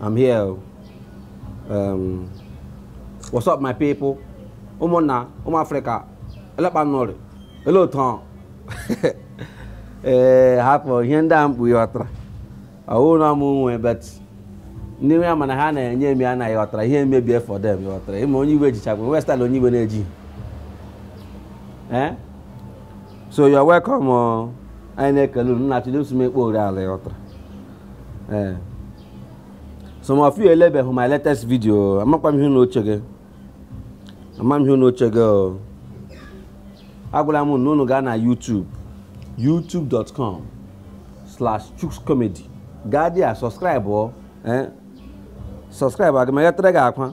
I'm here. Oh. Um, what's up, my people? Ụmụnna, ụmụ Africa, elee kpa unu ri, elee otu. Eh, hapụ ihe ndị a mbụ ịghọtara. Auna muwe but ndị nwe mana ha na-enye emi anaghị ghọtara ihe mebie for them ịghọtara ị ma onye iwe jichakwa nwe style onye iwe na-eji eh? so you're welcome oh. anyị na-ekele unu na-achọ ndị nsụmekpe ori ala ịghọtara eh. some of you elebeghị my latest video amakwa m ihe unu chega ama m ihe unu chega o agwala m na unu gaa na YouTube youtube.com slash chukscomedy gaa there subscribe eh? subscribe aga m egotara gị akwa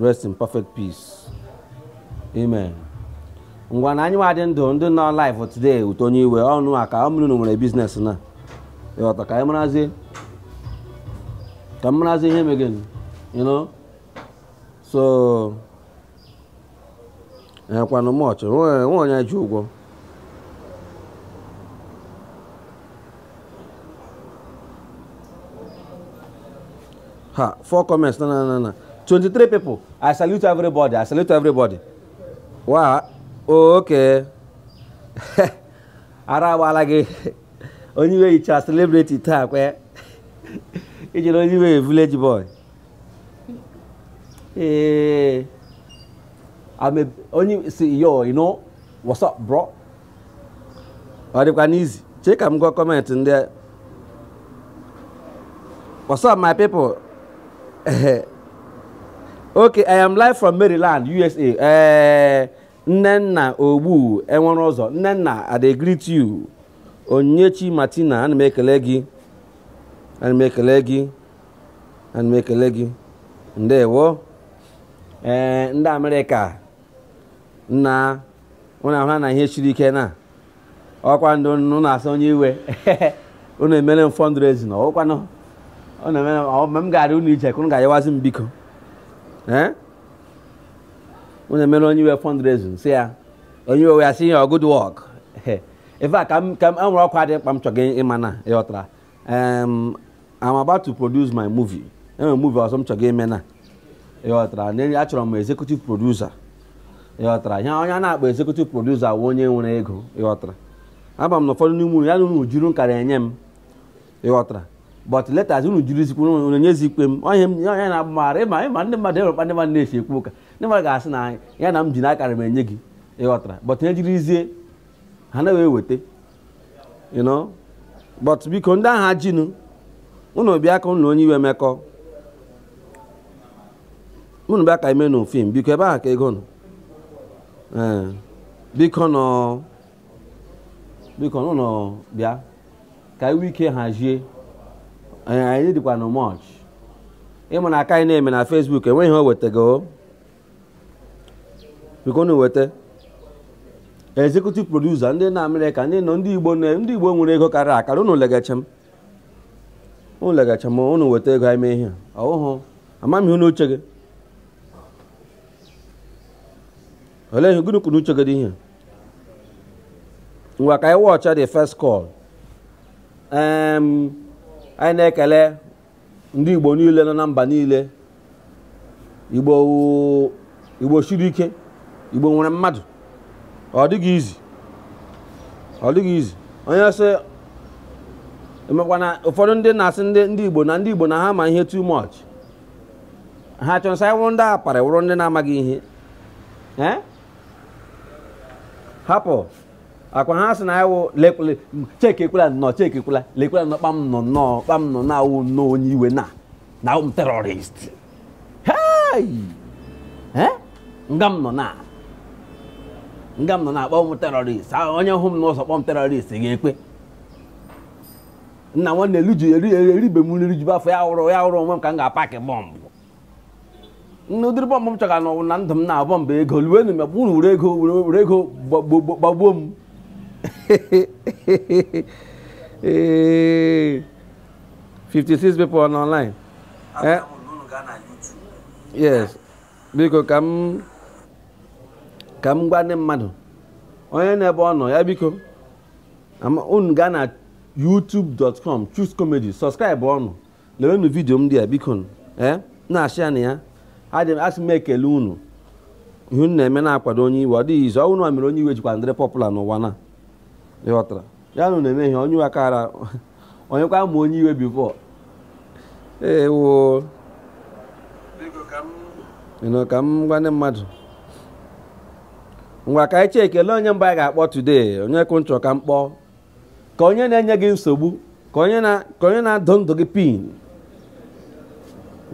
rest in perfect peace amen ngwanụ anyị nwa dị ndụ ndị nọ live today ụtọ onye iwe ọnụ a ka ọ bụrụ na unu nwere business na ịghọta ka anyị marazi ka m marazi ihe megịnụ you know so ekwanụ much nwe onye ji ụgwọ ha four comments na na na na 23 people i salute everybody i salute everybody wa okay ara agbala gị onye iwe yicha celebrity taa kwe ijere onye iwe village boy Hey, eh, I'm a, only see yo, you know, what's up, bro? Ọ dịkwanụ easy chee ka m gụọ comment ndị a what's up my people okay i am live from maryland usa ee eh, nnenna ogbu enwereụzọ nnenna i dey greet you onyechi martina ana m ekele gị ana m ekele gị ana m ekele gị ndewo ee eh, ndị amerịka nna ụnụ ahụrana ihe siri ike na ọkwa ndị ụnụ na-asị onye iwe ụnụ emere m fundraising ọkwanụ ọ na-emere mgbe m gara ụnụ ije ka ụnụ ga-ayawazi m biko ee eh? ụnụ emere onye iwe fundraising sị ya onye iwe ya sị ya good work ebe a ka m nwere ọkwa dị mkpa m chọga ịma na ịghọtara um, I'm about to produce my movie enwere movie ọzọ m chọga ime na ịghọtara na achọrọ m executive producer ịghọtara ihe onye na-akpọ executive producer wụ onye nwere ego ịghọtara ama m na ụfọdụ n'ime unu ya na unu juru nkara enye m ịghọtara but letters unu juru izikwu unu nyezi ikpe m onye m onye na-agba mara ịma ịma ndị mmadụ enwekwa ndị mmadụ na-esi ekwu ụka ndị mmadụ ga-asị na ya na m ji n'akara m enye gị ịghọtara but ihe jirizie ha na-eweta you know but biko ndị ahụ jinu unu bịa ka unu na onye iwe mekọọ unu bịa ka e meenu fim biko ebe ahụ ka ego nọ ee eh, bikonu bikonu bịa ka anyị nwee ike hazie eh, anyị dịkwa na much I mean nke anyị na-eme na Facebook enweghị ihe o wetago bịanụ weta executive producer ndị nọ America ndị nọ ndị igbo na- ndị igbo nwere ego karịa akarị unu legacha m unu legacha m unu weta ego anyị mee ihe a. oh amaghị m ihe unu chega olee ihe gịnị ka unu chega dị ihe ngwa ka anyị wọcha the first call um, anyị na-ekele ndị igbo niile nọ na mba niile igbo igbo siri ike igbo nwere mmadụ ọ dịghị easy ọ dịghị easy onye sị amakwa na ụfọdụ ndị na-asị ndị ndị igbo na ndị igbo na ha ma ihe too much ha chọrọ sị anyị wụrụ ndị aparị wụrụ ndị na-amaghị ihe hapụ ọ kwa ha sị na anyị wụ lekwala chekikwala nnọọ chekikwala lekwala nnọọ kpa m nọ nnọọ kpa m nọ na awụ nnọọ onye iwe na na awụ m terrorist hei Eh? nga m nọ na nga m nọ na-akpọ m terrorist Ah, onye hụ m n'ụzọ kpọọ m terrorist ga-ekpe nna nwanne elu ji eri eribe m nri rijuba afọ ya wụrụ ya wụrụ onwe m ka m ga-apakị bomb n'ụdịrị bomb m chọga nnọọ na ndụ m na bomb ego luenu m unu were ego were ego gbagbuo m ee 56 people on online eh? yes biko ka m ka m gwa ndị mmadụ onye n'ebe ọ nọ ya biko unu gaa na youtube.com choose comedy subscribe ọnụ lewenụ video m dị ya biko eh, na-ashare nụ ya asị m ekele unu ihe unu na-eme na-akwado onye iwe ọ dịghị easy ọ wụ unu mere onye iwe jikwa dịrị popular n'ụwa na ịghọtara ya na na-eme ihe onye iwe kara onye kwa ma onye iwe before ewo ịnụ ka m gwa ndị mmadụ ngwa ka anyị chekie lee onye mbụ anyị ga-akpọ today onye ka unu chọ ka m kpọọ ka onye na-enye gị nsogbu ka onye na ka onye na-adụ ndụ gị pin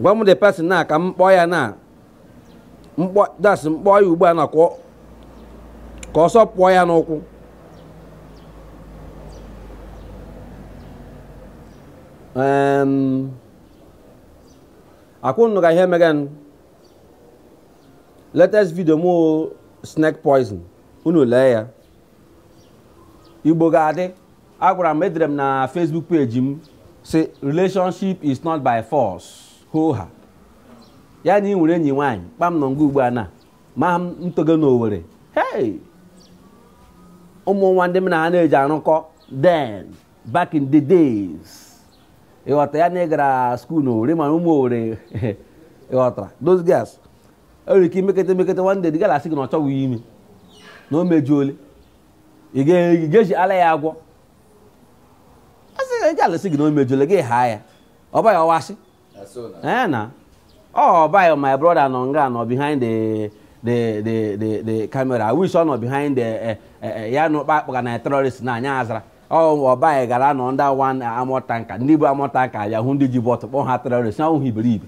gwa m the person now ka m kpọọ ya now m kpọ that's m kpọọ ya ugbu a na ka ọ- ka ọsọ pụọ ya n'ụkwụ Em, akwụnụ ka ihe mega nụ. latest video m wụ snake poison unu lee ya igbo ga-adị agwara m edere m na facebook page m sị relationship is not by force hoha ya na ị nwere enyi nwaanyị kpam nọ nga ugbu a na ma m toge na owere hey ụmụ nwa ndị m na ha na-eji arụkọ then back in the days ịghọtara ya na ị gara skuul na owere mana ụmụ owere ịghọtara those girls e nwere ike imekete emekete nwande dị gara asị gị na ọ chọghị ime na o mejuole ị ga-eji ala ya agwọ asị gị alụsị gị na o mejuole gị ha ya ọ baghị ọwasị ee na ọ baghị my brother nọ nga nọ behind the the the the the camera i wish ọ nọ behind the eh, eh, eh, ya na ụkpa akpọga na terrorist na anya azara ọ baghị gara nọ ndị wan armoured tanker ndị bu armoured tanker ya hụ ndị ji bottle kpọọ ha terrorist na ahụhụ iberibe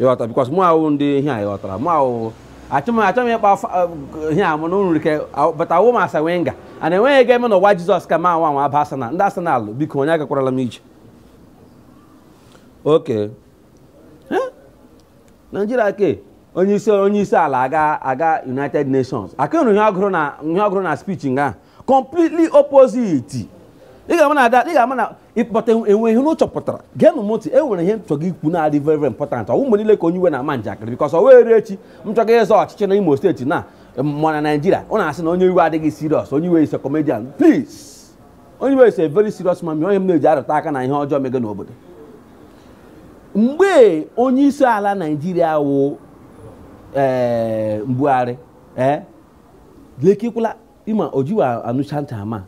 ịghọta because mụ wụ ndị ihe a ịghọtara mụ ahụ achọ m achọ m ịkpa afa- eh, ihe a mụ na nrike bata awụ m arsene wenger a na-enweghị ego eme n'ụwa jizọs ka ma anwa anwa aba arsenal ndị arsenal biko onye agakwarala m ije okay naijiria ke onye isi onye isi ala aga aga united nations akụrụ ihe ọ gụrụ na ihe ọ gụrụ na speech nga completely opposite ị ga-ama na ada ị ga-ama na ịkpọta e nwe ihe unu chọpụtara geenụ m ntị e nwere ihe m chọga ikwu na-adị very very important ọ wụ mgbe niile ka onye iwe na-ama njakịrị because ọ wụrụ echi m chọga ịzọ ọchịchị na Imo state na ma na Naịjirịa ọ na-asị na onye iwe adịghị serious onye iwe is a comedian please onye iwe is a very serious man onye m na-eji arụtụ aka na ihe ọjọọ mege n'obodo mgbe onye isi ala Naịjirịa wụ ee Buhari ee lekikwala ị ma o jiwa anụcha ntị ọma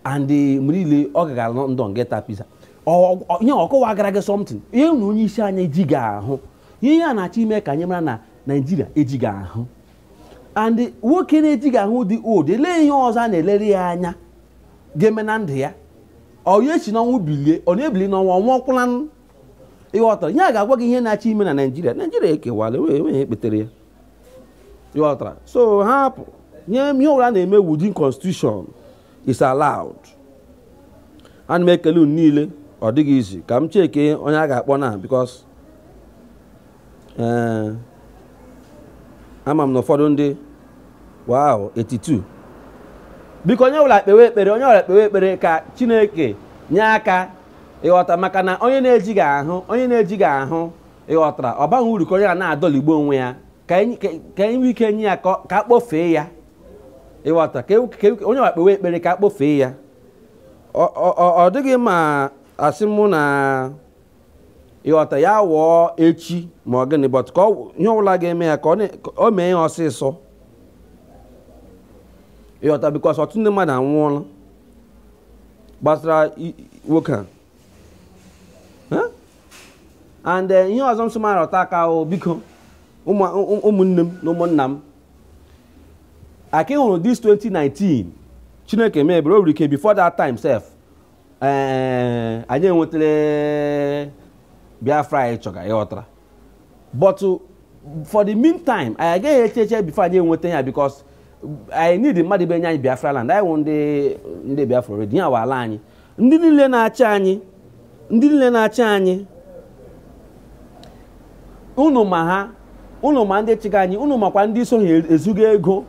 and eh, mgbe niile ọ gagara london ga ata pizza ihe ọ kọwagara gị something ihe na onye isi anyị ejighị ahụ ihe a na-achọ ime ka anyị mara na naijiria ejighị ahụ and nwoke na-ejighị ahụ dị old elee ihe ọzọ a na-elere ya anya ga-eme na ndụ ya onye si n'ọnwụ bilie ọ na-ebili n'ọnwa ọnwa ọ kwụla ịghọtara ihe a ga-agwa gị ihe na-achọ ime na naijiria naijiria ekewala enweghị ekpetere ya ịghọtara so ha hapụ nye ihe ọbụla na-eme within constitution is allowed ana m ekele unu niile ọ dịghị easy ka m cheke onye a ga-akpọ now because ee eh, ama m na ụfọdụ ndị wow 82 biko onye ọbụla kpewe ekpere onye ọbụla kpewe ekpere ka chineke nye aka ịghọta maka na onye na-ejighị ahụ onye na-ejighị ahụ ị ghọtara ọ baghị uru ka onye a na-adọligbo onwe ya ka anyị ka- ka anyị nwee ike nye ya ka ọ- ka a kpọfee ya ị ghọtara ka e- ka e- onye ọwụla kpewe ekpere ka a kpọfee ya Ọ- ọ ọ- ọ dịghị ma asị mụ na ị ghọta ya nwụọ echi ma ọ gịnị but ka ọ wụ- ihe ọbụla ga-eme ya ka ọ na- ka ọ mee ya ọsịsọ ị ghọta because ọtụtụ ndị mmadụ anwụọla gbasara i- i- nwoke a and eh, ihe ọzọ m sị m arụta aka o biko ụmụnne m na ụmụnna m aka hụrụ this 2019 Chineke mee ebere o nwere ike before that time sef eh, anyị enwetala Biafra anyị chọga ị ghọtara but uh, for the meantime anyị agaghị eche eche before anyị enweta ya because anyị need mmadụ ịbịa nye anyị Biafra land anyị wụ ndị ndị Biafra already ya ala anyị ndị niile na-achị anyị ndị niile na-achị anyị unu ma ha unu ma ndị chịga anyị unu makwa ndị so ha ezuga ego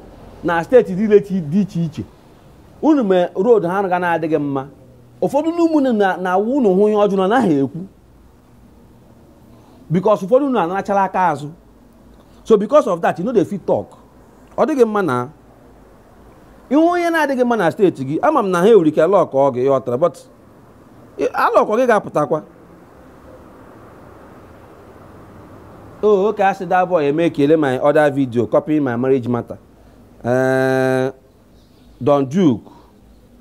na steeti niile dị iche iche unu ma road ha ga na-adịghị mma ụfọdụ n'ime unu na-awụ unu hụ ihe ọjọọ unu anaghị ekwu because ụfọdụ unu anarachala aka azụ so because of that you no dey fit talk ọ dịghị mma na ihe onye na-adịghị mma na steeti gị ama m na ha enwere ike lock up gị ị ghọtara but a lock up gị ị ga-apụtakwa oh okay asị that boy eme ekele my other video copy my marriage matter eh, Don Duke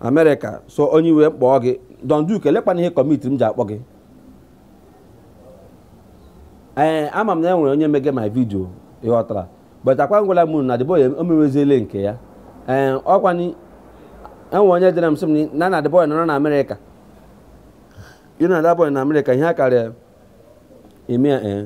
Amerịka so onye iwe kpọọ gị Don Duke elekwanụ ihe kpatara m ji akpọ gị ee eh, ama m na e nwere onye mege my video ị ghọtara but akwa agwala m unu na the boy a omeweziele nke ya ee eh, ọ kwanụ e nwere onye deere m sị m na na the boy a nọrọ na Amerịka ịnọ na the boy a na Amerịka ihe a karịa ime ya ee eh.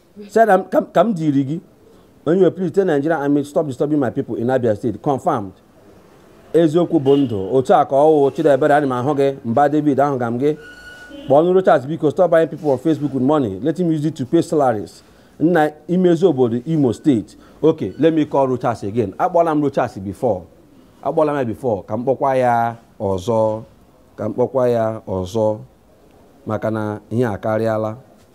said um, ka m diri gị onye we please tell Nigeria army stop disturbing my people in Abia State confirmed eziokwu bụ ndụ otu a ka ọ wụ Chidiebere ana m ahụ gị mba David ahụga m gị kpọọnụ Rochas biko stop buying people on Facebook with money let him use it to pay salaries na imezi obodo Imo steeti okay let me call Rochas again akpọla m Rochas before akpọla m ya before ka m kpọkwa ya ọzọ ka m kpọkwa ya ọzọ maka na ihe akarịala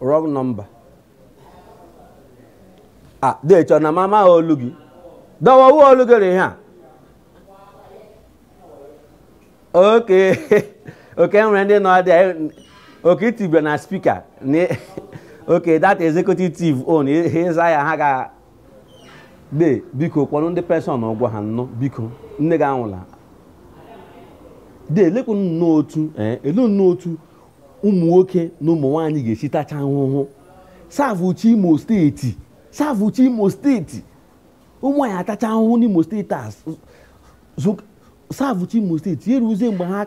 wrong number a ah, dechọ na m ama olu gị dọwawu olu gị rị ha oke oke nwere ndị nọ dị okay i tibere na speaker okay that executive team on ịza ya ha ga de biko kwụọnụ ndị penshọn ụgwọ ha nnụ biko nne gị anwụla de elekwu nnọọ otu ee ele nnọọ otu ụmụ nwoke na ụmụ nwaanyị ga-esi tacha ahụhụ savụchaa imo steeti savụchaa imo steeti ụmụ anyị atacha ahụhụ n'imo steeti a savụchaa imo steeti eruzie mgbe ha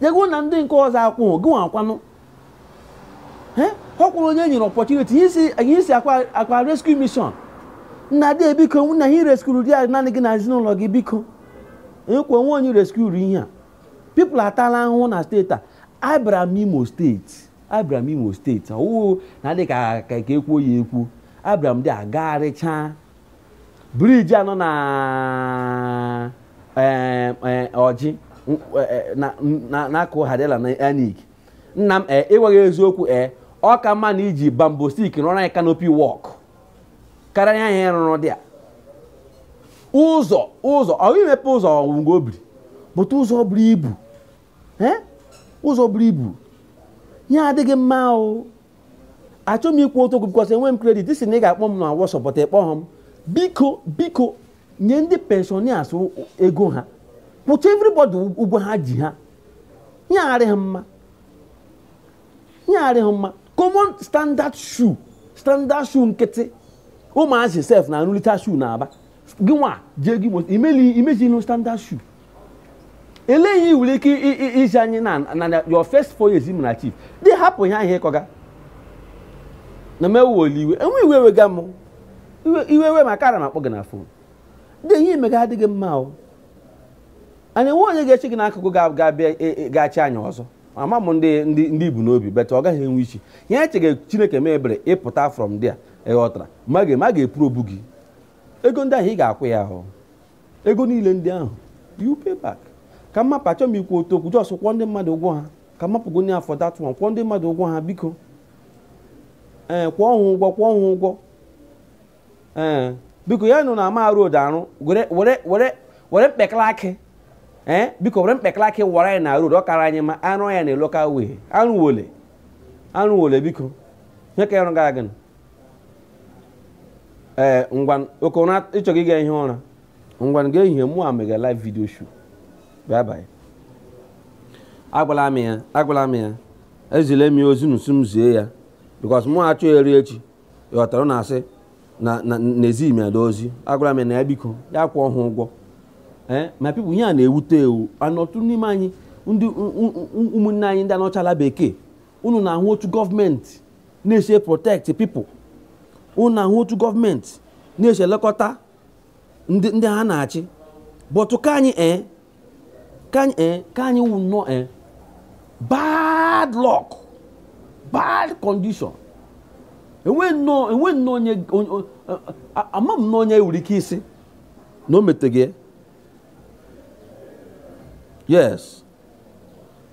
jego na ndị nke ọzọ akwụghị gị nwa akwụọnụ ọ kwụrụ onye nyere opportunity anyị isi akwa rescue mission nna de biko nna ha ireskuru di ya naanị gị na ezinụlọ gị biko ekwe nwe onye reskuru ihe a people atala ahụhụ na steeti a abịara m imo steeti abịara m imo steeti ọwụwụ na dị ka ka ekwuo ya ekwu abịara m dị agagharịchaa briji anọ na eh, eh, ọjị eh, na-akụ hadela na anik nna m ee ịgwa gị eziokwu ee ọ ka mma na i ji bamboo stick rụọrọ anyị canopy walk karịa ihe ị rụrụ dị a ụzọ ụzọ ọ imepe ụzọ ọgwụgwọ obiri but ụzọ buru ibu ụzọ buru ibu ihe adịghị mma o achọghị m ikwu otu okwu because enwe m credit ị sị na ị ga-akpọ m na whatsapp but ị kpọghọ m biko biko nye ndị pensioners ego ha kwụcha everybody ụgwọ ha ji ha ihe adịghị mma ihe adịghị mma common standard shoe standard shoe nkịtị ụmụazị sef na-arụlite shoe na aba gị nwa jee gị imeli imezi no standard shoe elee ihe nwere ike iji anyị na na your first four years m na chief dị hapụ ihe ahụ ị kọga na m ewewele iwe enwe iwe wega m iwe we m akara m akpọ gị na phone dị ihe i mega adịghị mma o and enwe onye ga-eshi gị n'akụkụ ga-abịa e, e, ga-achị anyị ọzọ ama m ndị ndị i bu n'obi but ọ gaghị enwe isi ihe i chega chineke mee ebere ị pụta from there ị ghọtara ma ga-eprobu gị ego ndị ahụ ị ga-akwụ ya ahụ ego niile ndị ahụ you pay back ka m mapụ achọ m ikwu otu okwu just kwụọ ndị mmadụ ụgwọ ha ka m mapụgo nye afọ dat one kwụọ ndị mmadụ ụgwọ ha biko ee kwụọ ha ụgwọ kwụọ ha ụgwọ ee biko ya nụ na ama road arụ were were were were mkpekala akị ee biko were mkpekala akị wara anyị na road ọ kara anyị mma arụ ya na local way arụwala arụwala biko nye ka ya rụ gara gịnị ee ngwa oke ụra ị chọghị ịga ihi ụra ngwa ga ehihie mụwa mega live video show bye bye agwala m ya agwala m ya ezile m ya ozi n'usu m zie ya because mụ achọ eru echi ị ghọtara na asị na ezi m ya dị ozi agwala m ya na ya biko ya kwụọ ha ụgwọ ee eh, my people ihe a na-ewute ewu anọtụ n'ime anyị ndị ụmụnne anyị ndị a nọcha ala bekee unu na-ahụ otu gọọmenti na-esi protect people unu ahụ otu gọọmenti na-esi elekọta ndị ha na-achị but ka anyị ee eh, ka anyị ee eh, ka anyị wụ nnọọ ee eh, bad luck bad condition enwe nnọọ enwe nnọọ onye ama m nnọọ onye nwere ike ịsị na o meteghị yes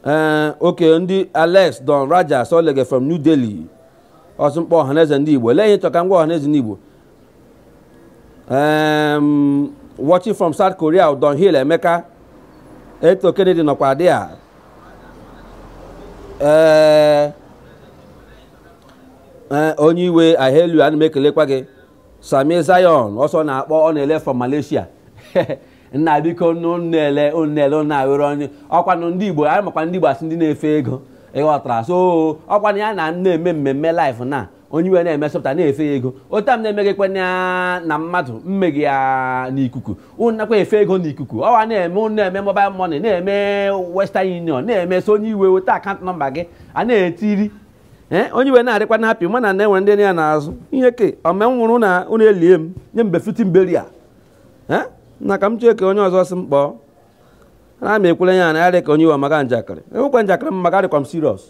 ee eh, okay ndị alex don raja solege from new delhi ọ sị m kpọọ ọhaneze ndị igbo lee ihe chọka ngwa ọhaneze ndị igbo watching from south korea don hill emeka eto kennedy nọkwa there ee eh, eh, onye iwe ahelu ana m ekelekwa gị sami zion o so na-akpọ ọ na-ele from malaysia nna biko unu na-ele unu na-ele unu na-aghọrọ onye ọkwanụ ndị igbo anyị makwa ndị igbo asị ndị na-efe ego ị ghọtara so ọkwanụ ya na m na-eme mmemme live na onye iwe na-emesọpụta na-efe ya ego otu a m na-emeghịkwa na na mmadụ mmeghe ya n'ikuku unu nakwa efe ego n'ikuku ọwa na-eme unu na-eme mobile money na-eme western union na-eme so onye iwe weta account number gị a na-etiri ee onye iwe na-adịkwa na happy mana na-enwe ndị ya n'azụ ihe ke ome nwụrụ na unu elie m nye m befitting burial na ka m chee ka onye ọzọ sị m kpọọ na m ekwele ya na ya dị ka onye iwe maka njakịrị enwekwa njakịrị m maka adịkwa m serious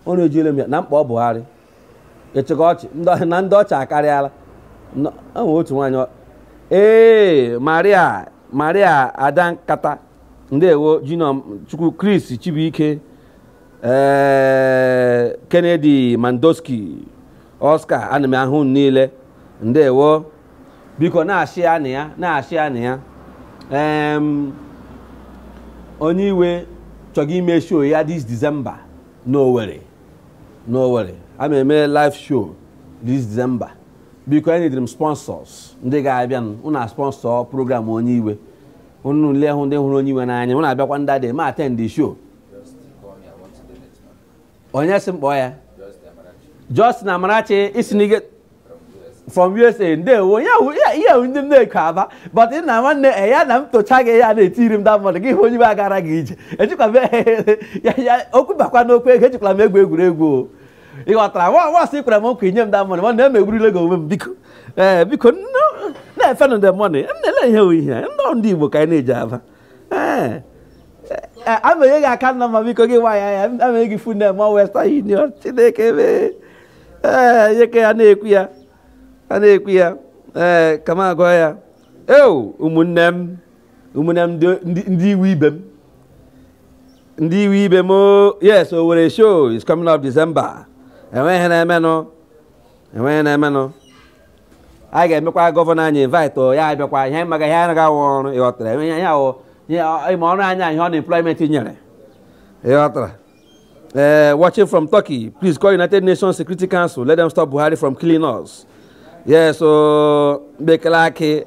ọ na-ejiele m ya na mkpa ọ Buhari echekwa ọchị na ndị ọchị akarịala enwe otu nwaanyị ee maria maria ada nkata ndewo jino chukwu chris chibuike ee eh, kennedy mandoski oscar ana m ahụ unu niile ndewo biko na-achị ya na ya na-achị ya na ya onye iwe chọga ime show ya this December n'Owerri n'Owerri a ma eme live show this December biko enidiri m sponsors ndị ga-abịanụ na-asponsor program onye iwe unu niile wụ ndị hụrụ onye iwe n'anya unu abịakwa ndị adị ma attend the show onye sị m kpọọ ya Justin Amarachi i si na-ege from USA ndewo ya hụ ya ihe hụ ndị m na-eko aba but ị na nwanne e ya na m tocha gị ya na-etiri m da mmadụ gị hụ onye iwe agara gị ije ejikwa m ya ya okwu bakwa n'okwu ego ejikwala m egwu egwuregwu o ị ghọtara nwa nwa sị kwere m nkwa inye m da mmadụ mana emegburiele gị onwe m biko ee biko nne- na-efenụ the money m na-ele ihe oyihe ndị ndị Igbo ka anyị na-eji aba ee eh, abanye gị aka nna m biko gị nwa ya ya abanye gị fun ma western union chineke mee ee eh, yeke ya na-ekwu ya a na-ekwu ya ee eh, kama agwa ya eo ụmụnne m ụmụnne m ndị iwe ibe m ndị iwe ibe m oh, yes Owerri show is coming up December enweghị na-emenụ enweghị na-emenụ anyị ga-emekwa gọvanọ anyị invite o, ya abịakwa ihe anyị maga ihe anaghị awụ ọrụ ịghọtara enwe ihe awụ ihe ọ- ịma ọrụ anyị ihe unemployment nyere ịghọtara ee watching from turkey please call united nations security council let them stop buhari from killing us yes o bekele akị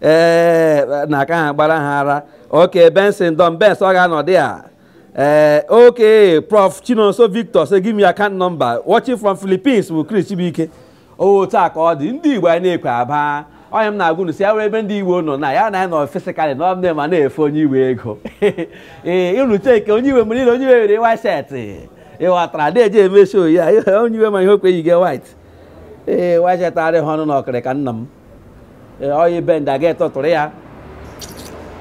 ee na aka ha gbara ha ara okay benson don bens ọ ga-anọ dị a ee okay prof chinonso victor say give me your account number watching from philippines bụ chris chibuike otu a ka ọ dị ndị igbo anyị na-ekwe aba onye m na-agwa unu sị ya were ebe ndị igbo nọ na ya na ya nọ physically na ọ bụla ma na-efe onye iwe ego ee ịrụ cheke onye iwe mgbe niile onye iwe were white shirt ịghọtara na-eji eme show ya onye iwe ma ihe okweghị gị white ee white shirt arịghị ọnụ na okrika nna m oyi bend aga etọtụrụ ya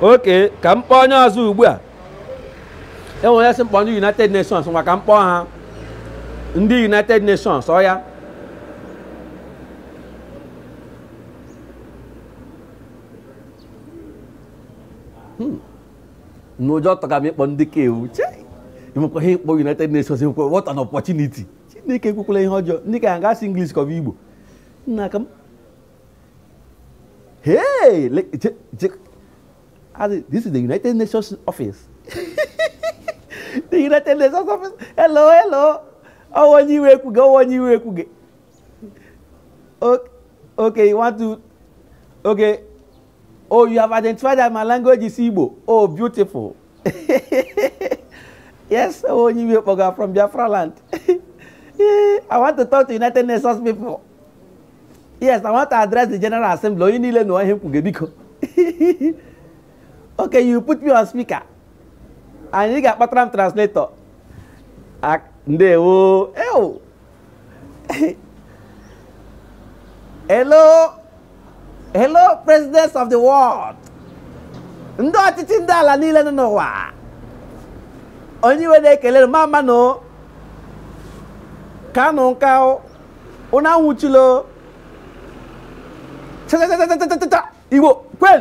okay ka m kpọọ onye ọzọ ugbu a enwere onye sị m kpọọ ndị united nations nwa ka m kpọọ ha ndị united nations oya hmm. na ụjọ tụga m ịkpọ ndị ka ewu enwekwa ike ịkpọ united nations enwekwa what an opportunity chineke ekwukwala ihe ọjọọ ndị ka ya ga-asụ english ka ọ bụ igbo nna ka m hey le- je- je- as in, this is the united nations office the united nations office hello hello ọ wụ onye iwe kwuga ọ wụ onye iwe kwuga O- okay you want to okay oh you have identified that my language is igbo oh beautiful yes, oh, you will program from Biafra land. I want to talk to United Nations people. Yes, I want to address the General Assembly. Onye niile na ọhịa mkpuge biko. Okay, you put me on speaker. Anyị ga-akpatara m translator. Ndewo. Ewo. hello hello presidents of the world ndị ọchịchị ndị ala niile nọ n'ụwa onye iwe na-ekele mma mma nụ kaanụ nka ụnụ anwụchula o igbo kwen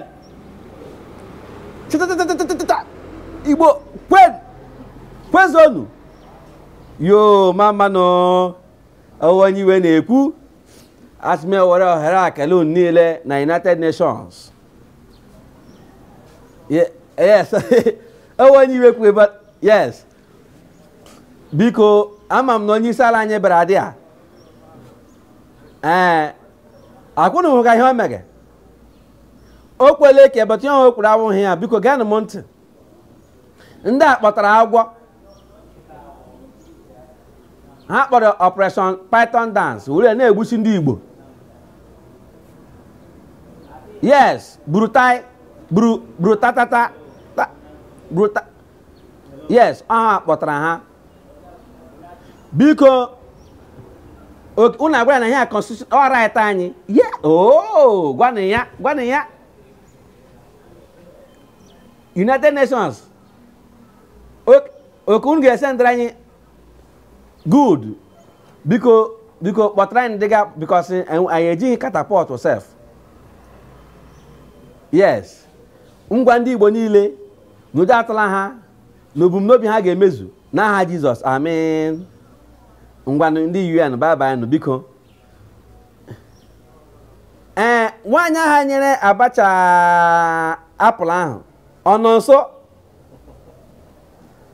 chịtatatatatata igbo kwen kwezonu yoo mma mma nụ ọ wụ onye iwe na-ekwu asị m were ohere a kelee unu niile na united nations Ye- yes ọ wụ onye iwe kwu ebe yes biko ama m na onye isi ala anyị bịara adị a ee akwa unu hụga ihe o mege o kwele ka ebetụ ya o kwuru awụghị ya biko geenụ m ntị ndị a kpọtara agwọ ha kpọrọ operation python dance were na-egbusi ndị igbo yes buratai bru brutatata ta- bruta yes ọ ha kpọtara ha biko unu agwa ya na ihe constitution ọ right anyị ye oo gwanụ ya gwanụ ya united nations okay unu ga-esendịra anyị good biko biko kpọtara anyị dịga because anyị ejighị catapult sef yes ngwa ndị igbo niile na ụjọ atụla ha na ebumnobi ha ga-emezu n'aha jesus amen ngwanụ ndị un bye bye nụ biko ee nwaanyị ahụ nyere abacha apple ahụ ọ nọ nso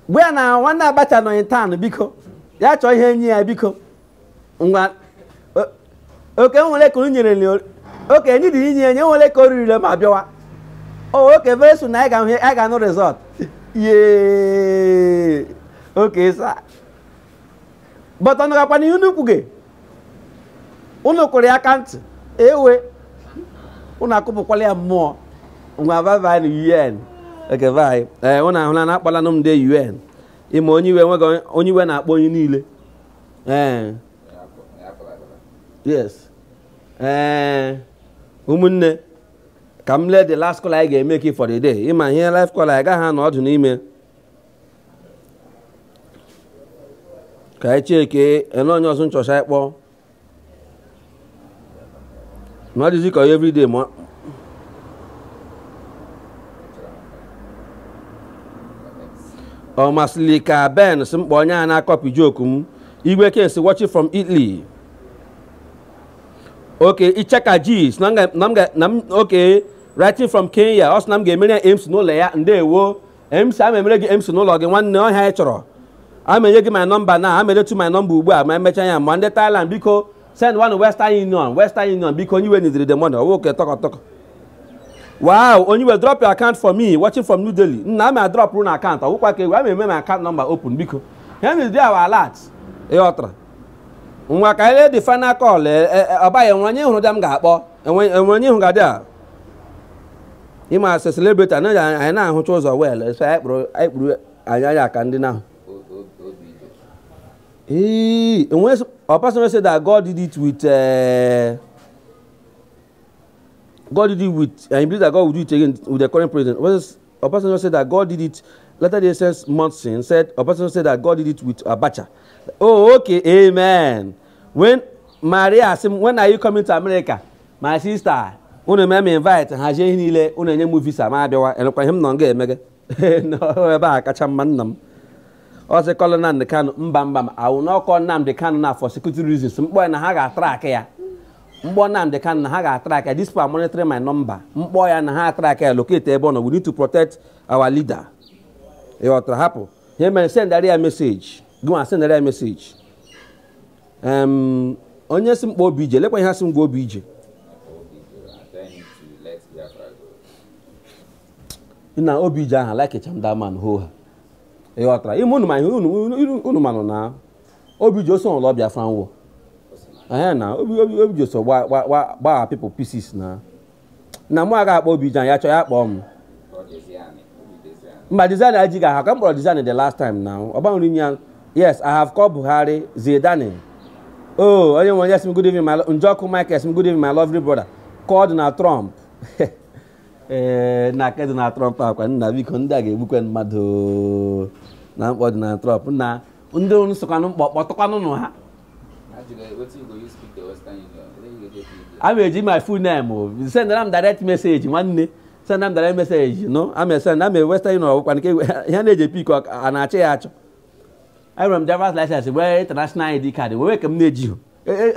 gwa ya na nwanne abacha nọghị taa biko ya chọọ ihe nye ya biko ngwa o- oke nwere ka unu nyere li ori- oke ndị dị inye enye nwere ka o ririle ma bịawa o okay very soon anyị ga-ahụ anyị ga-anụ result yee okay sir but unu gakwa n'ihe unu kwuge unu kụrụ ya aka ntị ewe unu akụpụkwala ya mmụọ ngwa bye bye na un okay bye ee unu ahụla na akpọlanụ m ndị un ịma onye iwe nweghị onye iwe na-akpọ onye niile ee yes ee ụmụnne ka m lee the last call anyị ga-eme ka for the day ịma ihe live call anyị gaghị anọ ọdụ n'ime ka anyị cheke enwe onye ọzọ na-achọcha ịkpọ na ọ dịzi ka onye everyday ma ọ masịrị ka ben si mkpa onye a na-akọpị joke m igwe kesi watching from italy okay icheka jis na m ga okay writing from kenya ọ sị na m ga-emere ya mc n'ụlọ ya ndewo mc ama emere gị mc n'ụlọ gị nwanne ọ ihe anyị chọrọ ama enye gị my number na ama edetu my number ugbu a ma emecha ya ma ndị Thailand biko send one Western Union Western Union biko onye iwe nidiri the money ọwụ okay tọkọ tọkọ wow onye iwe drop your account for me watching from New Delhi nna ama drop na account ọwụkwa ka ewe ama eme my account number open biko ya nidiri awa alert ịghọtara ngwa ka elee the final call ọbaghị enwe onye hụrụ dị m ga-akpọ enwe onye hụ ga-adị a ịma asị celebrity anaghị anyị na-ahụcha ụzọ well so anyị kpụrụ anyị kpụrụ anyị anya aka ndị n'ahụ ee enwe ọpasịrị sị that God did it with eh, God did it with and he believe that God will do it again with the current president ọpasịrị sị that God did it later the essence Monson said ọpasịrị sị that God did it with Abacha oh okay amen when Maria asị m when are you coming to America my sister unu mee m invite hazie ihe niile unu enye m visa ma abịawa enwekwa ihe m nọ nga eme gị ebe a kacha mma nna m ọ sị call Nnamdi Kanu mba mba m awụ n'ọkọ Nnamdi Kanu na for security reasons m kpọọ ya now ha ga-atrak ya m kpọọ Nnamdi Kanu now ha ga-atrak ya this people are monitoring my number m kpọọ ya now ha atrak ya locate ebe ọ nọ we need to protect our leader ị ghọtara hapụ ihe mere sendara ya message gị nwa sendara ya message onye sị m kpọọ OBJ lekwa ihe a sị m gwa OBJ na OBJ aha likecha m that man ho ha ị ghọtara ime unu ma ihe unu manụ na OBJ so lụọ Biafran war ee na OBJ so gbaa people pieces na na mụ aga akpọ OBJ ya chọọ ya kpọọ m mba Diezani ajighị aha ka m kpọrọ Diezani the last time na ọ gbanwere line ya yes i have called buhari zidane oh onye iwe yes m good evening my Njọkụ Mike yes m good evening my lovely brother call Donald Trump ee eh, na nke Donald Trump a kwa nna biko ndị a ga-egbukwe mmadụ na m kpọọ Donald Trump now ndị unu sịkwanụ m kpọọ kpọtụkwanụnụ ha a ma-eji my full name o sendara m direct message nwanne senda m direct message no a ma esenda m na western union ọ bụkwa nke ihe na-eji pick a na-achị ya achọ enwere m driver's license wee international id card wee ka m na-ejighị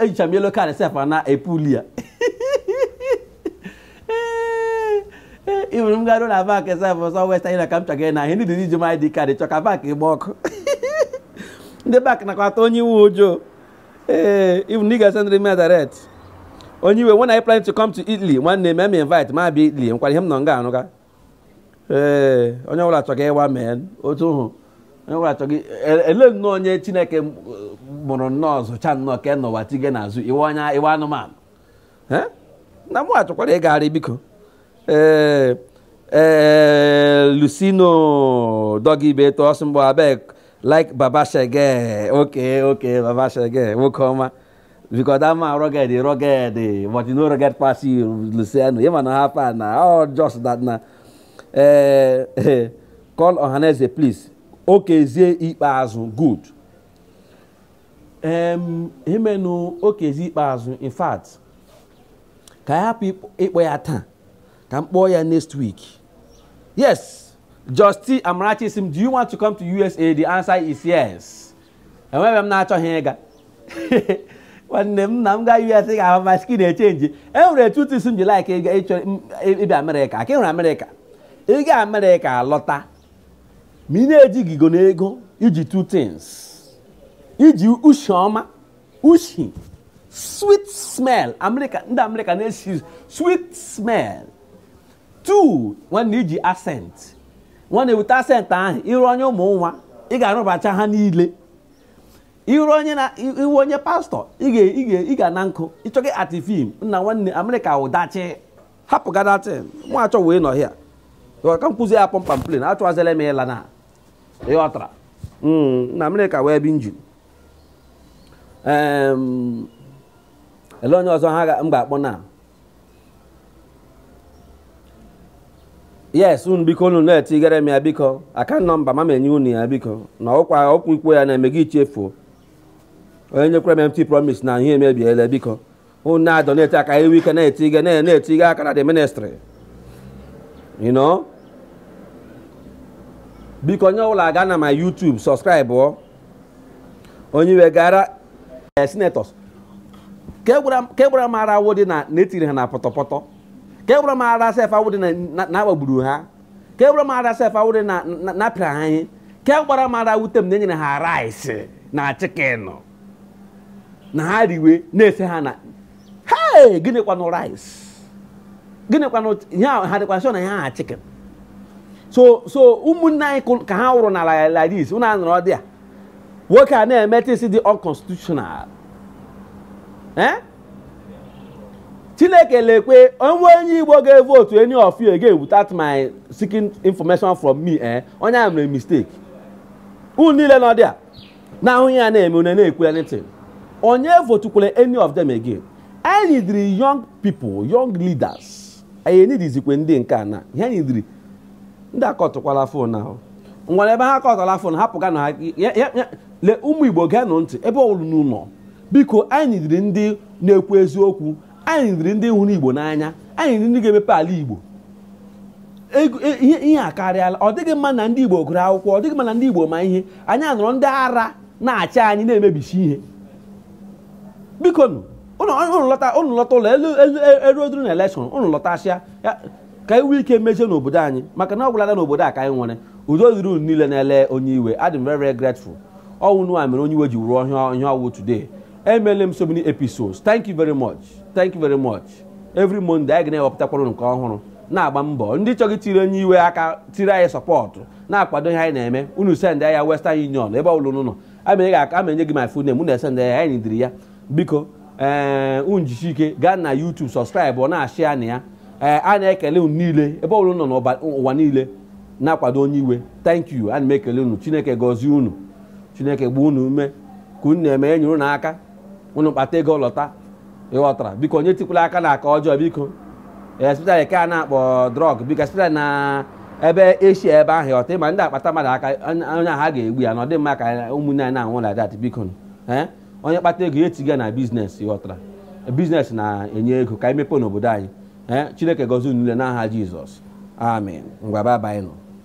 ejicha m yellow card sef na epuli ya ịhụrụ m garuo na bank sef ọsọ western union ka m chọga ị na ihe ndị dị iji m id card chọ ka bank gba ọkụ ndị bank nakwa ata onye iwe ụjọ ee ịbụ na ị ga-esendiri m direct onye iwe when I plan to come to Italy nwanne mee m invite ma bịa Italy enwekwara ihe m nọ nga arụga ee onye ọbụla achọghị ịwa mee otu hụ onye ọbụla achọghị e- ele nnọọ onye chineke m- mụrụ nnọọ zụcha nnọọ ka nọwa tige na zoo iwe onye iwe anụmanụ Eh? na mụ achọkwara ịgagharị biko ee ee lucino dọgị ibe eto ọsọ mgbe abeg like baba shege okay okay baba shege nwoke ọma because that man rugged he rugged eh, but you no rugged pass you Luciano him and half and na all just that na eh, eh, call Ohaneze please Okezie Ikpeazu good um, himenu Okezie Ikpeazu in fact ka ya hapụ ịkpọ ya taa ka m kpọọ ya next week yes Justin Amarachi sim do you want to come to USA the answer is yes enweghị ebe m na-achọghị ịga nwanne m na m gaa US ga-ahụ ma skin echenji e nwere two things m ji like ịbịa Amerịka ka ị hụrụ Amerịka ị gaa Amerịka alọta ma ị na-ejighị igo na ego i ji two things i ji ushi ọma ushi sweet smell Amerịka ndị Amerịka na-esi sweet smell two nwanne i ji accent nwanne weta accent ahụ ịrụ onye ụmụ nwa ị ga-arụbacha ha niile iru onye na iwu onye pastọ ị ga na nkụ ịchọghị act film nna nwanne amerịka wụdachi hapụ gadatin mụ achọwe ịnọ here ka m kwuzie ya pump and plain achọghazila m ịla na ị ghọtara hmm, na amerịka wee bi njin ele onye ọzọ ha m ga-akpọ na yes unu biko unu na-etigere m ya biko account number ma m enye unu ya biko na ọkwa okwu ikwu ya na-emeghị chefuo onye nyekwara m empty promise na ihe emebiela biko unu na-adoneti ka i nwee ike na-etige na- na-etige aka na the ministry you know biko onye ọbụla gaa na my youtube subscribe ọ onye iwe gara eh, senators ka egwara m ara awụ dị na e tiri ha na pọtọpọtọ ka egwara m ara sef awụ dị na a gbagburu ha ka egwara m ara sef awụ dị na a pịara ha ihe ka egwara m ara wute m na e nyere ha rice na chicken na ha riwe na-ese ha na hei gịnịkwanụ rice gịnịkwanụ ihe a ha dịkwa sọ na ihe aha chicken so so ụmụnne anyị kụ- ka ha wụrụ n'ala like this ụnụ anọrọ there nwoke a na-eme things dị unconstitutional Eh? chineke lekwe o nwee onye igbo ga-evotu any of you again without my seeking information from me eh? onye a mere mistake unu niile nọ there na-ahụ ihe a na-eme unu na-ekwu anything onye votukwere any of them again anyị nidiri young people young leaders anyị nidizikwe ndị nke a na ihe anyị nidiri ndị akatụkwala ahụ ah nwere ebe ha akatala ahụ hapụga na le ụmụ igbo geenụ ntị ebe ọwụla unu nọ biko anyị nidiri ndị na-ekwu eziokwu anyị nidiri ndị hụrụ igbo n'anya anyị nidiri ndị ga-emepe ala igbo e, ihe a karịala ọ dịghị mma na ndị igbo gụrụ akwụkwọ ọ dịghị mma na ndị igbo ma ihe anyị anọrọ ndị ara na-achị anyị na-emebisi ihe biko nụ ụnụ lọta ụnụ lọta ụlọ elu eruoduru na elekshọn ụnụ lọtasịa ka i nwee ike mezienụ obodo anyị maka na ọ gwụlala n'obodo a ka anyị nwere udo dịrị unu niile na-ele onye iwe adị m very very grateful ọ wụ ụnụwa mere onye iwe ji wụrụ ihe ọ wụ today emele m so many episodes thank you very much thank you very much every monday anyị ga na-ewepụtakwara nke ọhụrụ na-agba mbọ ndị chọrọ itiri onye iwe aka tiri anyị support na-akwado ihe anyị na-eme unu send ya western union ebe ọbụla unu nọ ama enye gị my full name unu esend ya anyị ndiri ya biko ee eh, unu jisie ike gaa na youtube subscribe ọ na channel anyị ee eh, a na-ekele unu niile ebe ọbụla unu nọ n'ụwa niile na-akwado onye iwe thank you ana m ekele unu chineke gọzie unu chineke gbaa unu ume ka unu na-eme nyere unu aka unu kpata ego lọta ị ghọtara biko onye etikwala aka na aka ọjọọ biko especially nke a na-akpọ drug biko especially na ebe asia ebe ahụ ọta ịma ndị akpata mmadụ aka onye ahụ a ga-egbu ya na ọ dịghị mma ka ụmụnne anyị na-anwụ like that biko eh? onye kpata ego ya etiga na business ị ghọtara business na-enye ego ka anyị mepee n'obodo anyị eh? chineke gọzie unu niile n'aha jizọs amen ngwa bye bye nụ